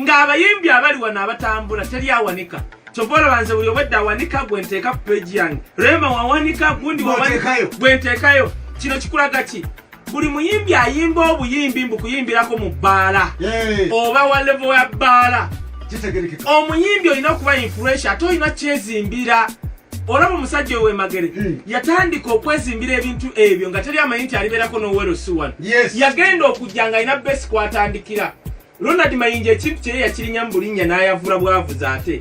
ng'abayimbi abali wano abatambula teri awanika kyova olaba nze buli obwedda awanika gwe nteeka ku peegi yange rema wawanika gundi gwe nteekayo kino kikulaga ki buli muyimbi ayimba obuyimbi mbu kuyimbirako mu bbaala oba wa levo ya bbaala omuyimbi olina okuba influensia ate olina kyezimbira olaba omusajja owemagere hmm. yatandika okwezimbira ebintu ebyo nga teri amanyi nti alibeerako nowerosi wano yagenda okujja nga alina besi kwatandikira Ronald Mayinja ekintu kye yakirinya mu bulinnya n'ayavula bwavuze ate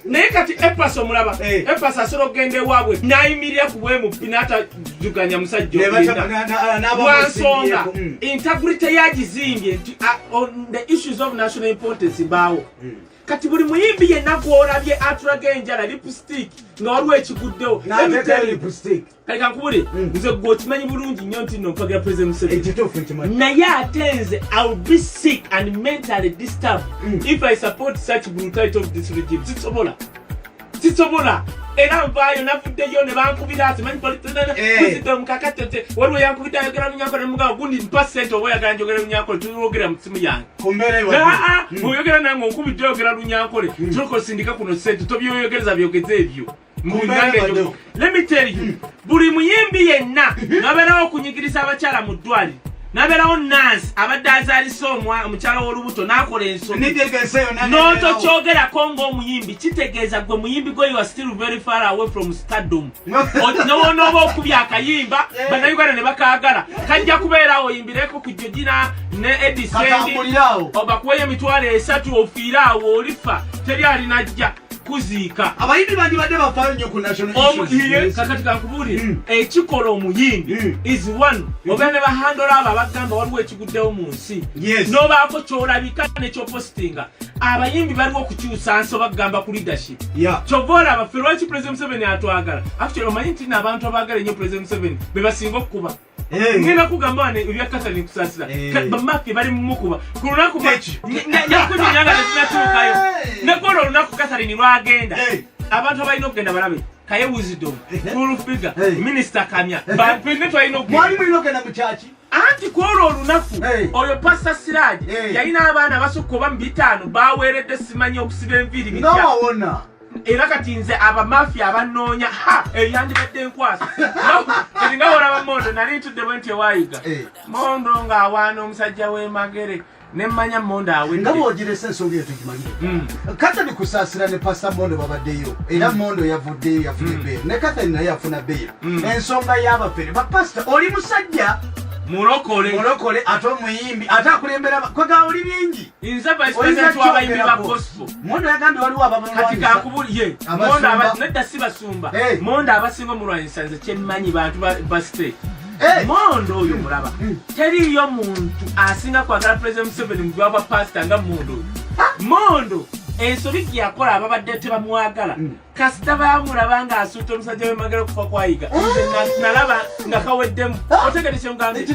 naye kati epas omulaba eh. epas asobola okugenda ewaabwe n'ayimirira ku bwemuppi n'atajuganya musajja olinawansonga hmm. integrity yagizimbye nti on the issues of national importance baawo hmm. kati buli muyimbi yenna gwolabye atulaga enjala lipstick nga waliwo ekiguddewo kale kankubule mm. nze gwe okimanyi bulungi nnyo nti no mpagira president museveni eh, naye ate nze iwill be sick and mentally disturbed mm. if i support such brutality of this regime sisobola sisobola era nvaayo navuddeyo ne bankubira ati manyi polisizitta eh. mukakatete waliwo yankubidde ayogera munyankole mugamba gundi mpa sente oba oyagala njogera lunyankole tuliwogera mu simu yange hmm. oyogera nange onkubidde oyogera lunyankole hmm. tulokosindika kuno sente tobyoyogereza byogeze ebyo buli muyimbi yenna nabeerawo okunyigiriza abakyala mu ddwaliro nabeerawo nansi abadde azaalisa omukyala w'olubuto n'akola ensononotokyogerako ng'omuyimbi kitegeeza gwe muyimbi gwe ua still very far away from stardom newonooba okubya akayimba banauganda ne bakaagala kajja kubeerawo oyimbireko ku jojina ne edisendi obakuweyo emitwalo esatu ofiire awo olifa teri alinajja kuziika abayimbi bandibadde bafaayo nnyo ku nationalkakati kakubuulire hmm. ekikola omuyimbi hmm. is one hmm. oba ne bahandola abo abagamba waliwo ekiguddewo mu nsi nobaako kyolabika nekyopositinga abayimbi baliwo okukyusa nsi oba kugamba ku leadership kyova olaba fe lwaki president museveni atwagala actually omanyi nti naabantu abaagala ennyo president museveni bebasinga okukuba Eh. ngenda kugamba wane ebya katani kusasira eh. bamaffe bali mumukuba ku lunaku nyakunyanga nezinatuukayo eh. nekwolwo olunaku katharini lwagenda abantu abalina okugenda balabe kaye wisdom full figure minister kamya bapene twalina okugenda anti kwolwo olunaku oyo pasta siraji yalina abaana basukka oba mu bitaano baweeredde simanyi okusiba enviiri bitya era kati nze abamafia abanoonya ha eyo eh, yandibadde enkwasa kati nga olaba mondo nali ntudde bwe nti ewayiga eh. mondo ng'awaana omusajja w'emagere nemmanya mondo awedde bwogiresa ensonga eyo tugimanyire hmm. kathani kusaasira ne pasta mondo babaddeyo era hmm. mondo yavuddeyo yafuna hmm. ebbeeyo ne kathani naye afuna beeyo ensonga y'abafere bapasita oli musajja mulokole mulokole ate omuyimbi ate akulembera kwega oli bingi Inza vice president wa bayimbi ba gospel. Mondo yagambye waliwo ababulwa. Kati kakubuliye. Mondo abati nedda si basumba. Hey. Mondo abasinga mu lwanyisa nze kye mmanyi bantu ba, ba state. Hey. Mondo oyo mulaba. Mm. Teriyo muntu asinga kwagala president Museveni mu gwabwa pastor nga Mondo. Mondo ensobi gye yakola ababadde tebamwagala. Mm. kasita bamulaba nga asuuta omusajja wemagala okufa kwayiga eh? nalaba nga kaweddemu ah! otegede kyemugambye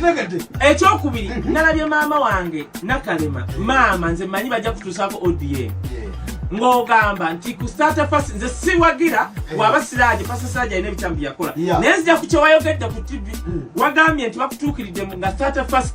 ekyokubiri mm-hmm. nalabye maama wange nakalema maama nze manyi bajja kutuusaako odm ng'ogamba nti ku starter fast nze siwagira eh. waba siraje fast siraje alina ebitambi yakola naye nzija ku kyewayogedde ku tv hmm. wagambye nti bakutuukiridde nga starter fast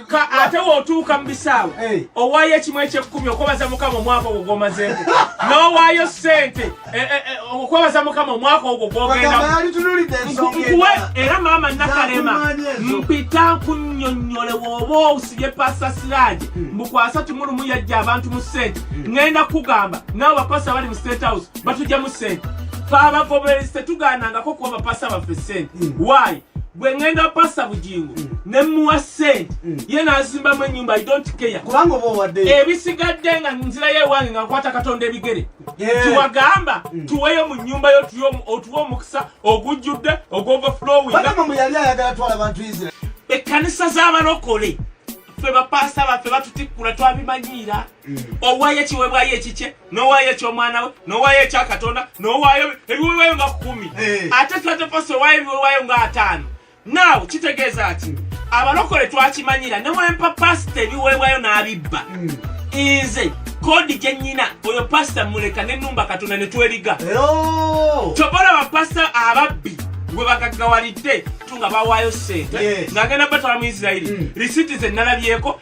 ka ate wotuuka mu bisaawe eh. owaayo ekimu ekyekkumi okwebaza mukama omwaka ogwo gwomazeeko n'owaayo ssente eh, eh, okwebaza mukama omwaka ogwo gwogendakuwe era maama nakalema mpita nkunyonyole woba osibye pasa siraje hmm. mbukwasa timulumu yajja abantu mu ssente hmm. ŋenda kukugamba naawe bapasa bali mu state house batujja mu ssente fe abagoberezi tetugaanangako kuwa bapasa baffe ssente hmm. waayi gwe ngenda pasa bugingo mm. nemuwa sente mm. ye nazimbamu enyumba ebisigadde nga nzirayo ewange nga nkwata katonda ebigere tiwagamba mm. tuweyo mu nyumba yo otuwa omukisa ogujjudde ogwovaflowinekkanisa zabalokole fe bapasa baffe batutikkula twabimanyiira owayo ekiwebwayo ekikye nowaayo ekyomwana we nowaayo ekya katonda nowaayo ebiwewayo nga kumi eh. ate sateposi owaayo ebiwewayo nga ataano naawe kitegeeza ki abalokole twakimanyira newempa pasita ebiwewayo n'abibba hmm. nze kodi gyenyina oyo pasita muleka nenumba katonda netweriga kyobola bapasita ababbi gwe bagaggawalidde tunga bawaayo sente ng'agenda batwala mu isirairi hmm. risiiti ze nalabyeko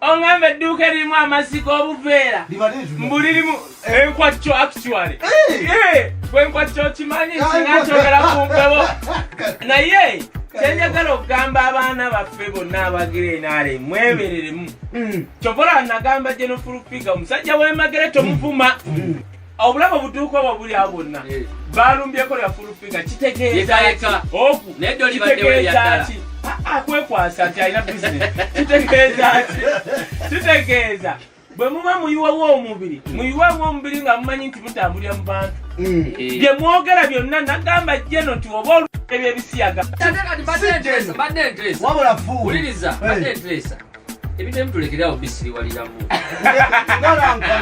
ongamba edduuka eririmu amazzi g'obuveera mbu lirimu enkwakyo actually bwenkwakyo okimanyi singa kyogera ku mpewo naye kyenjagala okugamba abaana baffe bonna abagirenaale mwebereremu mm. kyovola nagamba jenofulufiga omusajja wemagere tomuvuma mm. obulamu obutuuka obwo buli awo bwonna eh. balumbyeko lya fulufiga kitegeezakitegeezaki ah, ah, kwekwasa nti alina bisinesi kitegeezaki kitegeeza bwe muba muyiwewo omubiri hmm. muyiwewo omubiri nga mumanyi nti mutambulira mu bantu hmm. eh. bye mwogera byonna nagamba jeno nti oba olubye byebisiyaga wabula fuwuliriza badde nteesa eh. ebitemu tulekerawo bisiriwaliramu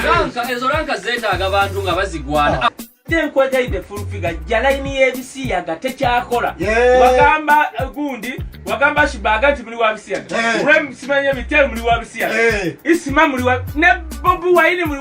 lanka ezo lanka zetaaga abantu nga bazigwana ah. tenkwegaide fulfiga ja layini y'ebisiyaga tekyakola wagamba eh, gundi wagamba shibaga nti muli wabisiyaga eh. rem simanye mitel muli wabisiyaga eh. isima muli ne bobi wayini muli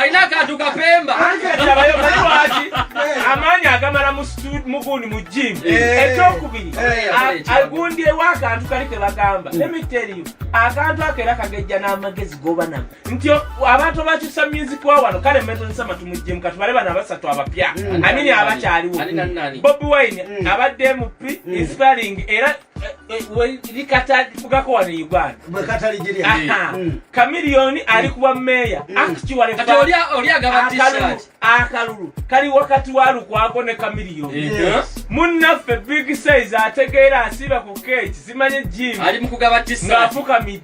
alina akantu kapemba amaanyi agamala mugundi mu jimu ekyokubiri agundyewo akantu kali kebagamba emiteriyo akantu ako era kagejja n'amagezi goba nago nti abantu abakyusa music wa wano kale metozesa matu mu jimu katubale bano abasatu abapya amini abakyaliwo bobi wine abadde mp inspiring era likatagako wano e uganda kamiliyoni mm. ali kuba meeya mm. akitiwaleakalulu akalulu kali wakati wa lukwako ne kamiliyoni munnaffe big size ategeera asiiba ku keeki zimanye jim ng'afukamidde